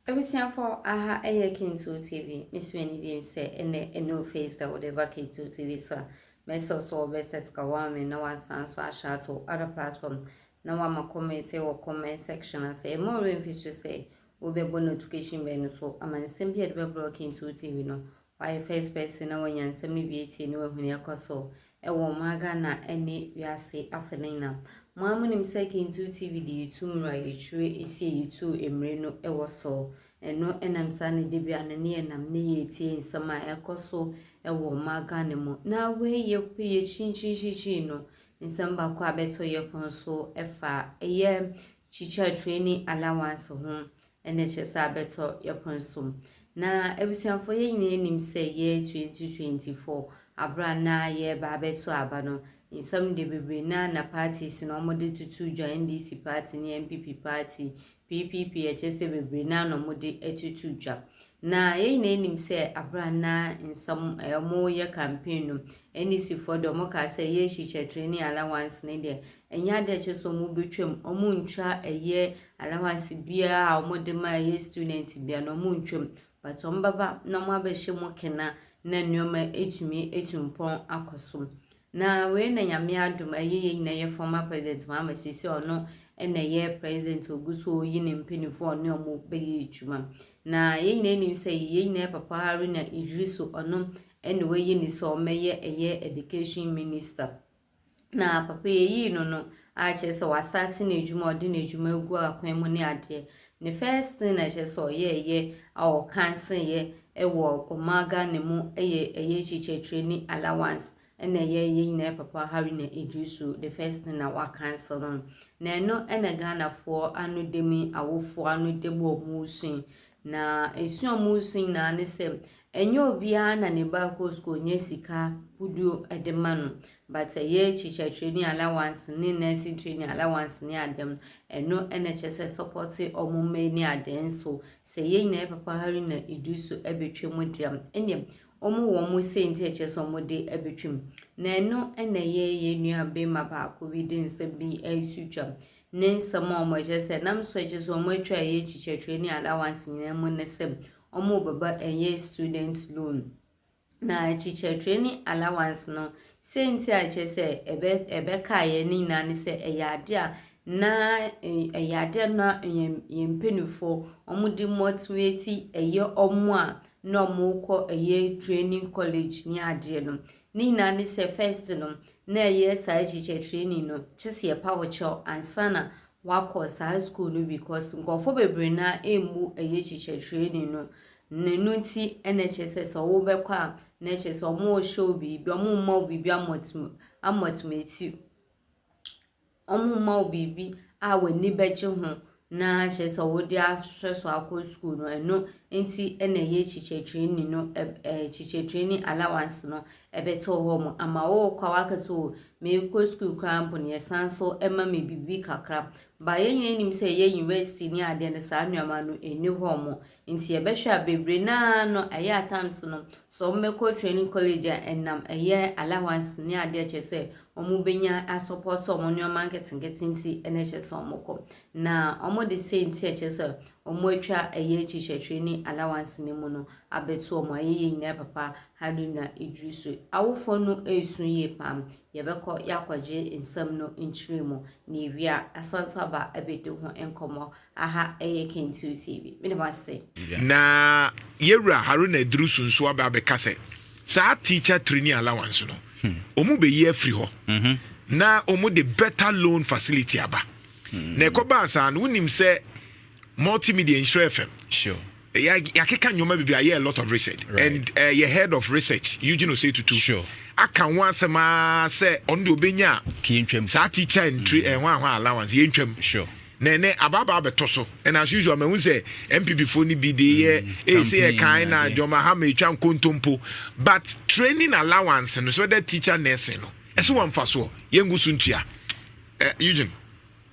Abusuafo aha ɛyɛ Kintoo TV. Mesi m'ani dim sɛ ɛnɛ ɛnu face da wɔde ba Kintoo TV so a mɛsɛ so wɔbɛ set ka wɔn me na wɔasan so ahyɛ ato other platform na wɔama comment sɛ wɔ comment section ase. Ɛmɔ ɔrɛ mfi so sɛ wobɛbɔ notification bell no so ama nsɛm bi a ɛde bɛbrɛ Kintoo TV no Wayɛ first person na wanya nsɛm no bi atie ne wahu nea ɛkɔ so wɔ ɔman Ghana ne wiase afa no nyina. Mo ara monim sɛ Kentoo TV de yɛtu mmura a yɛtwire si a yɛtu mmire no wɔ so. Ɛno nam saa na da biara no ne yɛnam ne yɛretie nsɛm a ɛkɔ so wɔ ɔman Ghana mu. Na wei yɛkɔ yɛ kyinkyinkyinkyin no nsɛm baako a bɛto yɛpon so fa ɛyɛ teacher training allowance ho Ɛna kyerɛ sɛ abɛtɔ yɛpon so. Na abusuafoɔ yɛn nyinaa nim sɛ year 2024 abere a na yɛreba abɛto aba no nsɛm de bebree na na parties no wɔde tutu dwa NDC party ne NPP party PPP ɛkyerɛ sɛ bebree na na wɔde atutu dwa na yɛn nyinaa nim sɛ abere a na nsɛm eh, wɔyɛ campaign no NDC foɔ deɛ wɔkaa sɛ yɛrekyekyɛ training allowance no deɛ ɛnyɛ adeɛ kyerɛ sɛ wɔbɛtwam wɔntwa ɛyɛ Allowance biara a wɔde ma ɛyɛ student bia no wɔn ntwa mu but wɔn bɛba na wɔn abɛhyɛ mu kena na nneɛma atumi atu mpɔn akɔ so. Na wei na nyame adom ɛyɛ yɛn nyinaa yɛ former president Mahama sisi ɔno ɛna ɛyɛ president ogu so ɔyi ne mpanimfoɔ ɔne ɔmo bɛyɛ adwuma. Na yɛn nyinaa nim sɛ yɛn nyinaa papa Haruna Idrisu ɔno ɛna wɔayi ne sɛ ɔmɛyɛ ɛyɛ education minister. Na papa yɛyii no no a kyerɛ sɛ wastate n'adwuma a ɔde n'adwuma agu akwan mu ne adeɛ. Ne first thing na kyerɛ sɛ ɔyɛɛyɛ a ɔkanseeɛ wɔ ɔmaa Ghana mu yɛ ɛyɛ kyekyɛkyerɛ ni allowance ɛna ɛyɛ yɛ nyinaa papa Haruna Iddrisu the first thing na wakansel no. Na ɛno ɛna Ghanafoɔ ano demi awofoɔ ano demi wɔn resua Na ɛsua a wɔresua nyinaa ne sɛ, ɛnyɛ obiara na ne ba kɔ sukuu nya sika kuduo de ma no. But ɛyɛ teacher training allowance ne nursing training allowance ne adeɛ no, ɛno na ɛkyɛ sɛ sɔpɔte wɔn mma yi ne adeɛ nso. Sɛ yɛn nyinaa yɛ papa hari na edu so bɛtwa mu deɛ, ɛnneɛ wɔn wɔ wɔn senti a ɛkyɛ sɛ wɔde bɛtwa mu. Na ɛno na ɛyɛ yɛn nua bɛrima baako bi de nsɛm bi reto twa. ne nsɛm a wɔkyerɛ sɛ nam so kyerɛ sɛ wɔatwa ɛyɛ akyi kyerɛkyerɛ ne allowance nyinaa mu ne sɛ wɔbɛba ɛyɛ student loan. Na akyi kyerɛkyerɛ ne allowance no, sɛ nti a kyerɛ sɛ ɛbɛ ɛbɛka ɛyɛ ne nyinaa ne sɛ ɛyɛ adeɛ a na ɛyɛ adeɛ a na yɛn yɛn mpanimfoɔ wɔde motivate ɛyɛ wɔn a na wɔkɔ ɛyɛ training college ne adeɛ no. Ne nyinaa ne sɛ first no na ɛyɛ saa akyirikyɛ training no kyɛ sɛ yɛpa wo kyɛw ansa na wakɔ saa school no because nkurɔfoɔ bebree na ɛmmu ɛyɛ akyirikyɛ training no ne no nti ɛna ɛkyɛ sɛ sɛ wobɛkɔ a na ɛkyɛ sɛ wɔn rehyɛ wo biribi wɔn mma wo biribi amɔtumi amɔtumi ti Wɔmma wo biribi a w'ani bɛgye ho na kyerɛ sɛ wode ahwɛ so akɔ sukuu no, ɛno nti na ɛyɛ kyikyɛtreni no kyikyɛtreni allowance no ɛbɛto hɔ mu ama wo kwa waka so meekɔ sukuu koraa mpo no yɛsan so ɛma me biribi kakra. Ba yɛn nyinaa nim sɛ ɛyɛ university ne adeɛ no saa nneɛma no ɛni hɔ mu nti yɛbɛhwɛ a bebree naa no ɛyɛ at times no Sɛ wɔbɛkɔ training college a ɛnam ɛyɛ allowance ne adeɛ kyerɛ sɛ wɔbɛnya asɔpɔ sɛ wɔn nneɛma nketenkete nti na ɛhyɛ sɛ wɔkɔ. Na wɔde sei nti a ɛkyerɛ sɛ wɔatwa ɛyɛ teacher training allowance no mu no abɛto wɔn a yɛyɛ nyinaa papa ha no nyinaa ɛduru so. Awofoɔ no ɛresu yie paa. Yɛbɛkɔ yɛakɔgye nsɛm no nkyerɛ mu na yɛwie a asan nso aba abɛdi ho nkɔmmɔ. Aha yɛ Kentu TV. Meda mo ase. Na yɛwura Haruna Iddrisu nso aba abɛka sɛ saa teacher training allowance no wɔn hmm. bɛyi afiri hɔ mhm. na wɔn de better loan facility aba hmm. na ɛkɔbaa saa no wonim sɛ multimedia nhyira fm Yeah, yɛakeka nneɛma bebree ayɛ a lot of research right. and uh, yɛ head of research eugene osei tutu sure. aka ho asɛm aa sɛ ɔno deɛ ɔbɛnya saa teacher ntri mm. ɛho eh, ahoa allowance yɛntwam sure na ɛnɛ abaabaa bɛtɔ so and as usual mahu sɛ mpp foɔ no bi de yɛ mm, eh, ɛsɛ yɛ kan na dwɔma ha ma ɛtwa nkontompo but training allowance no so that teacher nursing no ɛsɛ wɔmfa soɔ yɛngu so ntua eh, eugene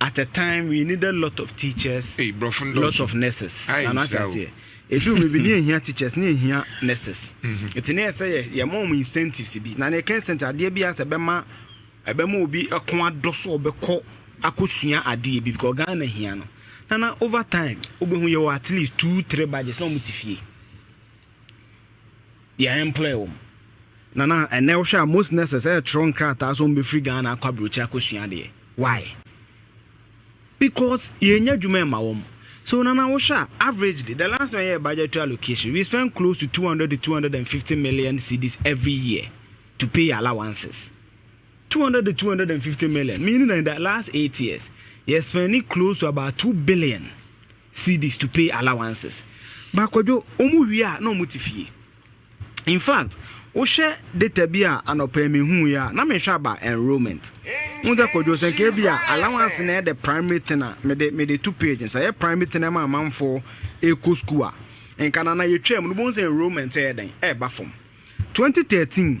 at a time we needed lot of teachers, Ei, brɔfo no lot dɔɔso. of nurses. Ai, Nana ate nhyira o. aseɛ. Ɛduru baabi ne yɛhia teachers ne yɛhia nurses. Nti ne yɛ sɛ yɛ- yɛma wɔn incentives bi. Na ne yɛka incentive adeɛ bi a sɛ ɛbɛma ɛbɛma obi ɛko adɔ so ɔbɛkɔ akɔsua adeɛ bi because Ghana hia no. Nana over time wobɛhu yɛwɔ at least two three badges na wɔn te fie. deɛ ɛmplɛɛ wɔn na na ɛnɛ wohwɛ a most nurses ɛretwerɛ nkrataa sɛ wɔbɛfiri ghana akɔ aburokyire akɔsua adeɛ why because yɛnya adwuma ɛma wɔn so nana wohwɛ a averagely the last time yɛ budgetary allocation we spend close to 200 to 250 million cedis every year to pay allowances 200 to 250 million meaning that in the last eight years yɛ spending close to about 2 billion cedis to pay allowances but kwadwo ɔmo wie a na ɔmo te fie infact wohwɛ data bi a anɔpa yi me hu yɛ a na me hwɛ aba enrollment wohu sɛ kwadwo sɛ nka bi a allowance na ɛde primary ten a mede mede to page nsa yɛ primary ten ɛma amanfoɔ ɛkɔ school a nka na na yɛtwa mu no bohu sɛ enrollment ɛyɛ dɛn ɛɛba fam 2013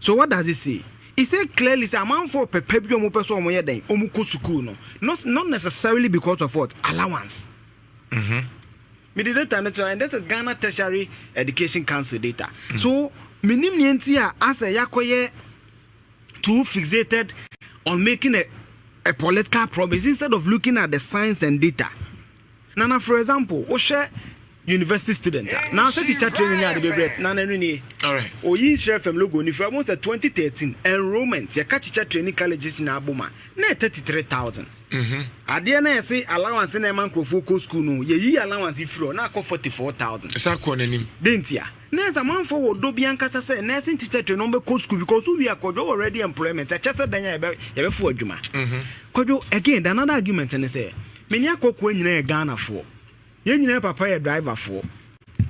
So what does it say? It says clearly sɛ amanfoɔ pɛpɛ bi a wɔpɛ sɛ wɔyɛ dɛn? Wɔkɔ sukuu no. Not, not necessarily because of what? Allowance. Mm-hmm. Mede data no kyerɛ and this is Ghana Tertiary Education Council data. Mm. So menim nea nti a asɛ yɛakɔyɛ too fixated on making a, a political promise instead of looking at the science and data. Nana for example wo hwɛ university student a na sɛ teacher training ne ade bebree na na no nie oyi nhyerɛ fam logo ni fira wɔn sɛ 2013 enrollment yɛka teacher training colleges na abom a na yɛ 33000 mhm. adeɛ na yɛse allowance na ɛma nkurɔfoɔ kɔ school no yɛyi allowance firi hɔ na akɔ 44000 ɛsɛ akɔ n'anim de ntia na ɛsɛ amanfoɔ wɔ dɔ bi ankasa sɛ nursing teacher training wɔbɛkɔ school because wowie akɔdwo wɔ ready employment ɛkyɛ sɛ dan a yɛbɛfo adwuma mhm. kɔdwo again the another argument ne sɛ Me nua Kokoa nyinaa yɛ Ghanafoɔ. Yɛn nyinaa papa yɛ driverfoɔ,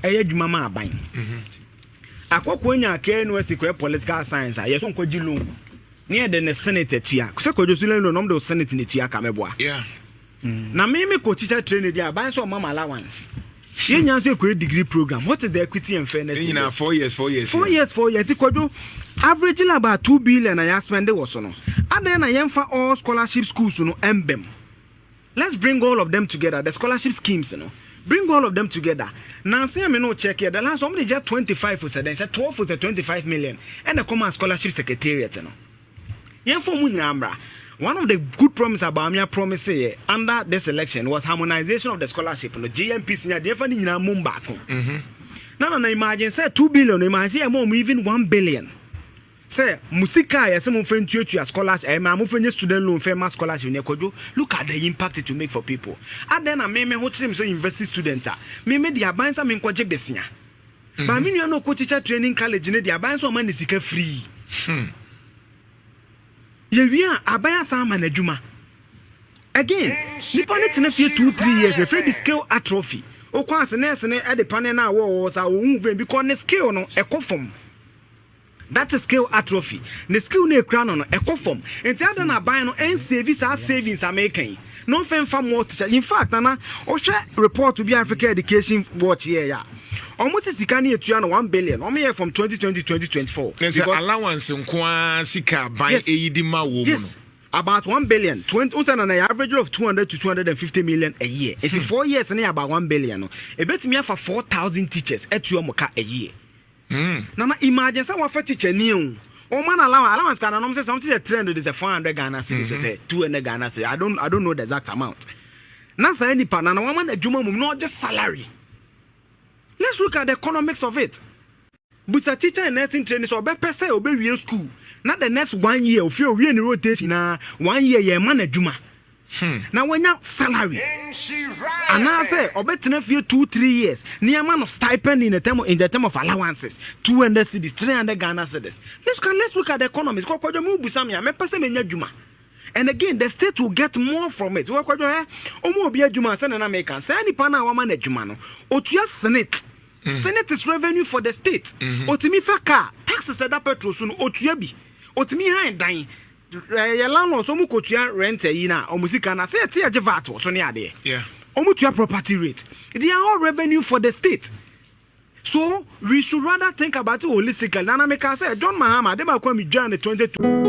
ɛyɛ adwuma ma aban. Akokoa nya Akea University kɔɛ political science a, yɛso nkɔgye loan ne yɛde ne senate atua. Sɛ kɔdwo so loan na ɔmde wo senate na atua ka mɛboa. Mm. Na me me kɔ teacher training deɛ aban sɛ ɔma ma allowance. Yɛn nyinaa nso ɛkɔɛ degree program. What is the equity and fairness in this? Nyinaa four years, four years. Four years, four years. Ti kɔdwo, average about two billion na yɛaspende wɔ so no. Adɛn na yɛmfa all scholarship schools no ɛmbɛm? let's bring all of them together the scholarship schemes no bring all of them together nansi ɛmi no check yɛ the last wɔn de gya twenty five sɛ dɛn sɛ twelve sɛ twenty five million ɛna ɛkɔm a scholarship secretariat no yɛn fɔ mu nyinaa mra one of the good promise abaamia promise yɛ under this election was harmonization of the scholarship no GMPC nya deɛ ɛfa ne nyinaa mu baako mm-hmm. na na na imagine sɛ two billion imagine sɛ yɛ mɔ ɔmo even one billion. Sɛ mo sika a yɛse momfa ntuatua scholarship ɛɛ ma momfa nyɛ student loan fɛ ma scholarship nɛ kwadwo look at the impact it will make for people adɛn na me me ho kyere me sɛ university student a me me deɛ aban sa menkɔ gye besia baa me nua no ɔkɔ teacher training college ne deɛ aban sa ɔma ne sika free hmm. yɛwie a aban asan ama no adwuma again nipa ne tena fie two three years yɛfrɛ bi skill atrophy wokɔ ase nɛɛse no ɛde panel no a wɔwɔ sa wɔhu vɛn bi kɔ ne skill no ɛkɔ fam That is skill atrophy. Ne skill no a ekura no no, ɛkɔ fam. Nti adɛn na aban no nsave saa savings a meka yi na ɔmfa mfa multi-site? In fact, Nana, wohwɛ report bi a Africa Education Watch yɛeɛ a, wɔse sika no yɛtua no one billion, wɔyɛɛ from 2020 to 2024. Kyerɛ sɛ allowance nko ara sika aban Yes. eyi de ma wɔ mu Yes, no. about one billion. Twenty, wo sɛ Nana yɛ average of 200 to 250 million a year. Nti four years no yɛ about one billion no, ebetumi afa 4,000 teachers atua wɔn ka a year. Hmm. Nana imagine sɛ wɔfa teacher ni o. Wɔma no allowance, allowance kora nanom sɛ something sɛ 300 de sɛ 400 Ghana cedis so sɛ 200 Ghana cedis. I don't I don't know the exact amount. Na saa nipa na na wɔama no adwuma mum na ɔgye salary. Let's look at the economics of it. Busa teacher in nursing training sɛ ɔbɛpɛ sɛ ɔbɛwie school na the next one year ofie owie ne rotation na one year yɛma no adwuma. na wanya salary anaasɛ ɔbɛtena fie two three years na yɛama no stipend in the term in the term of allowances two hundred cedis three hundred Ghana cedis let's can let's look at the economy kɔ kɔdwa mu busa mi a mɛpɛ sɛ menya adwuma and again the state will get more from it wɔ kɔdwa ɛ ɔmo obi adwuma sɛ nana meka sɛ nipa na wama no adwuma no otua senate senate is revenue for the state otumi fa car taxes ɛda petrol so no otua bi otumi han dan Yɛ landlords ɔmo kɔ tua rent ayi no a ɔmo sika no a sɛ yɛte yɛgye vat wɔ so ne adeɛ ɔmo tua property rate they are all revenue for the state so we should rather think about it holistically nana me kaa sɛ John Mahama ade baako a me dwaa no 2020.